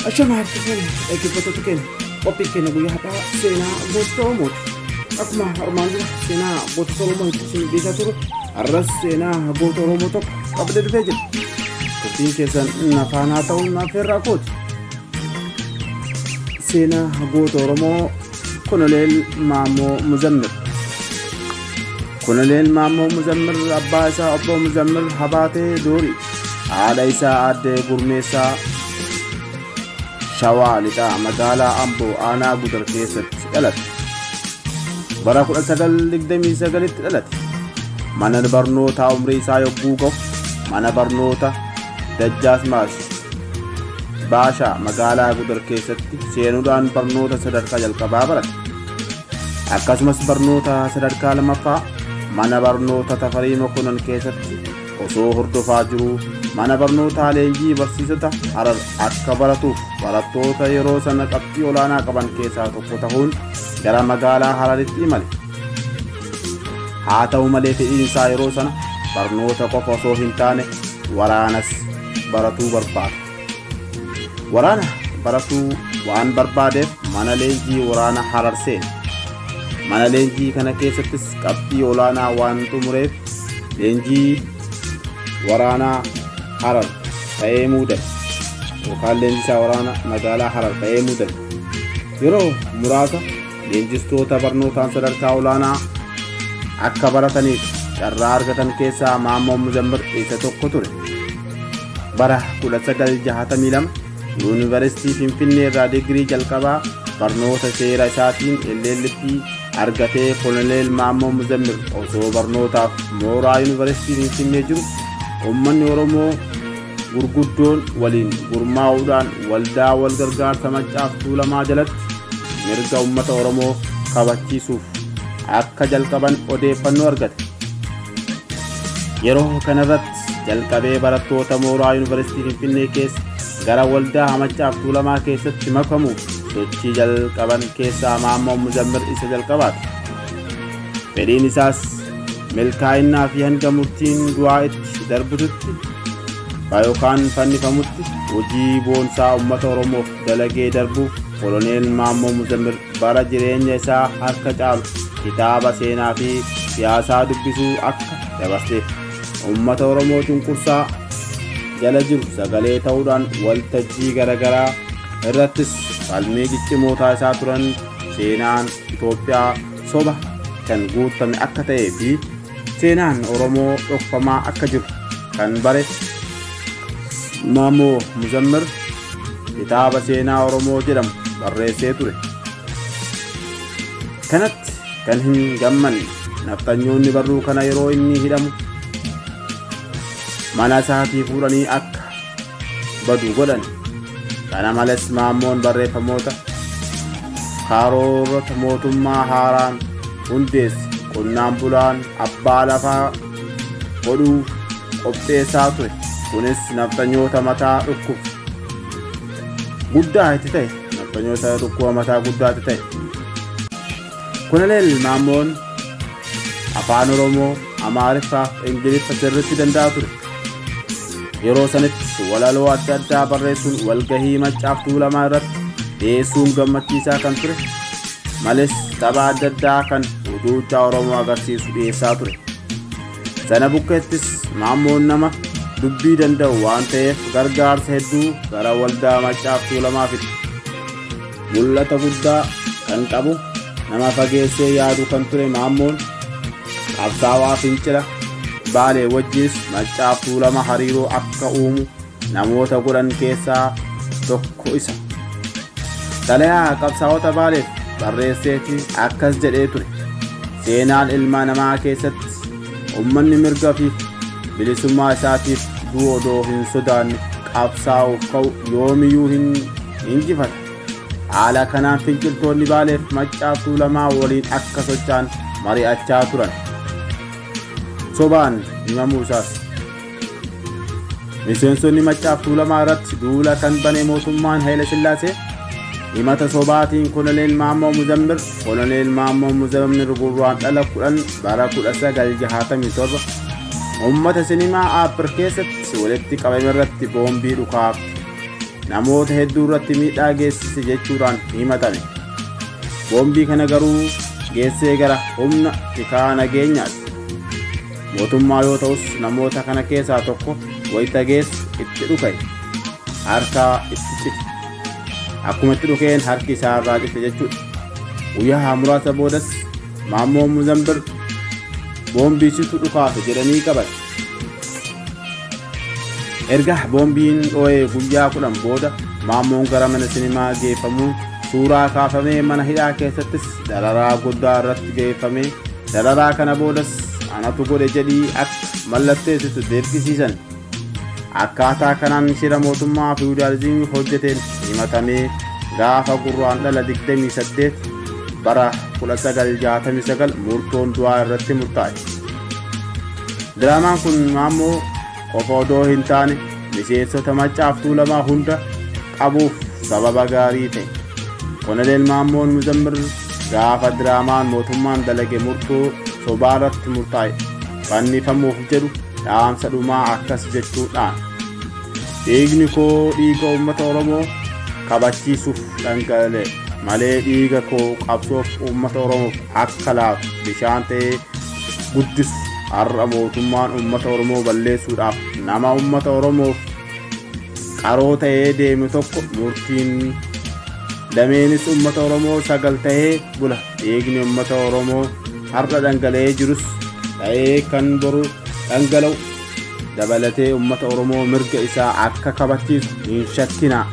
Ashama harki keenya dhaggeeffattoota keenya qophii keenya guyyaa har'aa seenaa gootota Oromooti. Akkuma armaan dura seenaa gootota Oromoo itti isin dhiisaa turu har'as seenaa goota Oromoo tokko qabdee dhufee jira. Turtiin keessan nafaan haa ta'uun affeerraa kooti. Seenaa goota Oromoo Koloneel Maammoo Muzammir. Koloneel Maammoo Muzammir abbaa isaa obbo Muzammir Habaatee Doorii. haadha isaa aadde gurmeessaa shawaa lixaa magaalaa amboo aanaa gudar keessatti dhalate bara 1929tti dhalate mana barnootaa umrii isaa yogguu gahu mana barnoota dajjaasmaas baashaa magaalaa gudar keessatti seenuudhaan barnoota sadarkaa jalqabaa barate akkasumas barnoota sadarkaa lamaffaa mana barnoota tafarii mokonan keessatti osoo hordofaa jiruu mana barnootaa leenjii barsiisota harar akka baratuuf barattoota yeroo sana qabxii olaanaa qaban keessaa tokko ta'uun gara magaalaa hararitti imale haa ta'u malee fedhiin isaa yeroo sana barnoota qofa osoo hin taane waraanas baratuu barbaada Waraana baratuu waan barbaadeef mana leenjii waraana Harar seene. Mana leenjii kana keessattis qabxii olaanaa waan xumureef leenjii waraanaa Harar ta'ee muudame. Yookaan leenjisaa waraana magaalaa Harar ta'ee muudame. Yeroo muraasa Leenjistoota barnootaan sadarkaa olaanaa akka barataniif carraa argatan keessaa Maammoo Muzammir isa tokko ture. Bara 1962 Yuunivarsiitii Finfinnee irraa digirii jalqabaa barnoota seera isaatiin LLB argatee Koloneel Maammoo Muzammir osoo barnootaaf mooraa Yuunivarsiitii Finfinnee jiru uummanni Oromoo gurguddoon waliin gurmaa'uudhaan waldaa wal gargaarsa maccaaf tuulamaa jalatti mirga ummata oromoo kabachiisuuf akka jalqaban odeeffannoo argate yeroo kanarratti jalqabee barattoota mooraa yuunivarsiitii finfinnee keessa gara waldaa maccaaf tuulamaa keessatti makamuuf sochii jalqaban keessaa maammoo muzammir isa jalqabaati Fedhiin isaas milkaa'innaa fi hanga murtiin du'aa itti darbututti bakka yookaan fannifamutti hojii boonsaa uummata Oromoof dalagee darbuuf koloneel Maammoo Muzammir bara jireenya isaa harka caalu kitaaba seenaa fi siyaasaa dubbisuu akka dabarseef uummata Oromoo cunqursaa jala jiru sagalee ta'uudhaan waltajjii garaagaraa irrattis falmii ciccimootaa isaa turan seenaan Itoophiyaa soba kan guutame akka ta'ee fi seenaan Oromoo dhokfamaa akka jiru kan bare Maamoo Muzammir kitaaba seenaa Oromoo jedhamu barreessee ture. Kanatti kan hin gammanne nafxanyoonni barruu kana yeroo inni hidhamu mana isaatii fuudhanii akka badu godhan. Kana malees Maammoon barreeffamoota karoorota mootummaa haaraan hundeesse qonnaan bulaan abbaa lafaa godhuu qopheessaa ture. Kunis nafxanyoota mataa dhukkuba guddaa itti ta'e. Nafxanyoota dhukkuba mataa guddaa itti ta'e. Koloneel Maammoon afaan Oromoo, Amaariffaa fi Ingiliffa sirriitti danda'a ture. Yeroo sanatti walaloo adda addaa barreessuun walgahii maccaaf tuulamaa irratti dhiyeessuun gammachiisaa kan ture malees tapha adda addaa kan duuchaa Oromoo agarsiisu dhiyeessaa ture. Sana bukkeettis Maammoon nama dubbii danda'u waan ta'eef gargaarsa hedduu gara waldaa maccaaf tuulamaa fide. Mul'ata guddaa kan qabu nama fageessee yaadu kan ture Maammoon qabsaawaa fincila baalee wajjis maccaaf tuulama hariiroo akka uumu namoota godhan keessaa tokko isa. Xalayaa qabsaawota baaleef barreesseetti akkas jedhee ture. Seenaan ilma namaa keessatti Ummanni mirga fi bilisummaa isaatiif du'u odoo hin sodaanne qabsaa'uuf ka'u yoomiyuu hin injifata. Haala kanaan finciltoonni Baaleef Maccaaf Tuulamaa waliin akka socho'an mari'achaa turan. Sobaan himamuu isaas. Miseensonni Maccaaf Tuulamaa irratti duula kan bane mootummaan Hayila Sillaasee himata sobaatiin Koloneel Maammoo Muzammir Koloneel Maammoo Muzammir gurraan dhala 10 bara 1967 uummata sinimaa Aappir keessatti walitti qabame irratti boombii dhukaaf namoota hedduu irratti miidhaa geessise jechuudhaan himatame. Boombii kana garuu geessee gara humna tikaa nageenyaati. Mootummaa yoo ta'us namoota kana keessaa tokko wayita geessu itti dhuka'e harka itti cite. Akkuma itti dhukeen harki isaa irraa cite jechuudha. Guyyaa muraasa boodas Maammoo Muzambir boombii situ dhukaase jedhanii qaban. Erga boombiin dhoo'ee guyyaa kudhan booda Maammoon gara mana sinimaa geeffamuun suuraa kaafamee mana hidhaa keessattis dararaa guddaa irratti geeffamee Dararaa kana boodas anatu godhe jedhii akka mallatteessitu dirqisiisan. Akkaataa kanaan shira mootummaa fiwudaalizimii hojjeteen himatamee gaafa Gurraandhala 28 bara 1969 murtoon du'aa irratti murtaa'e. Diraamaan kun Maammoo qofa odoo hin taane miseensota maccaaf tuulamaa hunda qabuuf sababa gaarii ta'e konoleel maammoon muzammir gaafa diraamaan mootummaan dalage murtoo sobaa irratti murtaa'e fannifamuuf jedhu dhaamsa dhumaa akkas jechuudhaan dhiigni koo dhiiga uummata oromoo kabachiisuuf dhangala'e malee dhiiga koo qabsoof uummata oromoof akka laatu bishaan ta'ee guddis har'a mootummaan uummata oromoo balleessuudhaaf nama uummata oromoof qaroo ta'ee deemu tokko murtiin dameenis uummata oromoo sagal ta'ee bula dhiigni uummata oromoo har'a dhangala'ee jirus ta'ee kan boru dhangala'u dabalatee uummata oromoo mirga isaa akka kabachiisu hin shakkinaa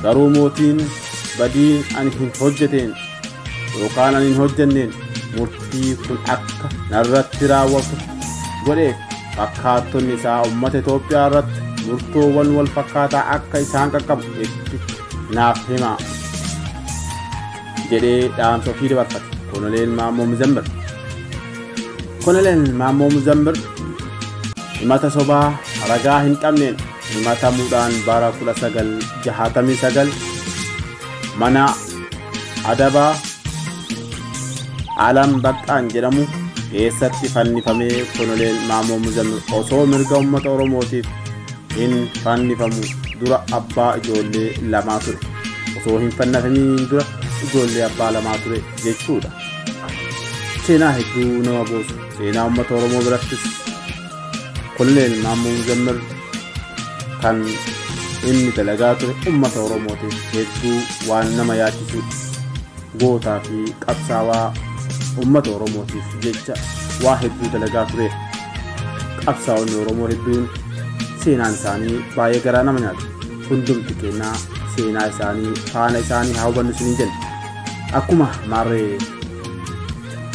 garuu mootiin badii ani hin hojjeteen yookaan ani hin hojjenneen murtii kun akka narratti raawwatu godheef fakkaattonni isaa uummata Itoophiyaa irratti murtoowwan wal fakkaataa akka isaan qaqqabu itti naaf himaa jedhee dhaamsa ofii dabarfate koloneel Maammoo Muzammir. Koloneel Maammoo Muzammir himata sobaa ragaa hin qabneen himatamuudhaan bara 1969 mana adabaa alam baqqaan jedhamu keessatti fannifamee koloneel maamoo muzammil osoo mirga ummata oromootiif hin fannifamu dura abbaa ijoollee lamaa ture osoo hin fannifamiin dura ijoollee abbaa lamaa ture jechuudha seenaa hedduu nama boosu seenaa ummata oromoo birattis Koloneel Maammoo Muzammir kan inni dalagaa ture uummata Oromootiif hedduu waan nama yaachisudha. Gootaa fi qabsaawaa uummata Oromootiif jecha waa hedduu dalagaa ture. Qabsaa'onni Oromoo hedduun seenaan isaanii baay'ee garaa nama nyaata. Hundumti keenyaa seenaa isaanii faana isaanii haa hubannu isiniin jenna. Akkuma maarree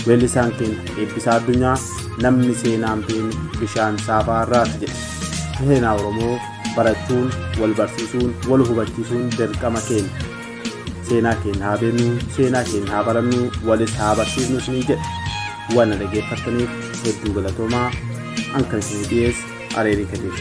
Weellisaan keenya Eebbisaa Addunyaa namni seenaan beenu bishaan saafaa irraati jedhe. Seenaa Oromoo barachuun, wal barsiisuun, wal hubachiisuun dirqama keenya. Seenaa keenya haa beeknu, seenaa keenya haa barannu, walis haa barsiifnu isiniin jedhe. Waan na dhaggeeffattaniif hedduu galatoomaa. An kan isinii dhiyeesse Areerii Kadiir.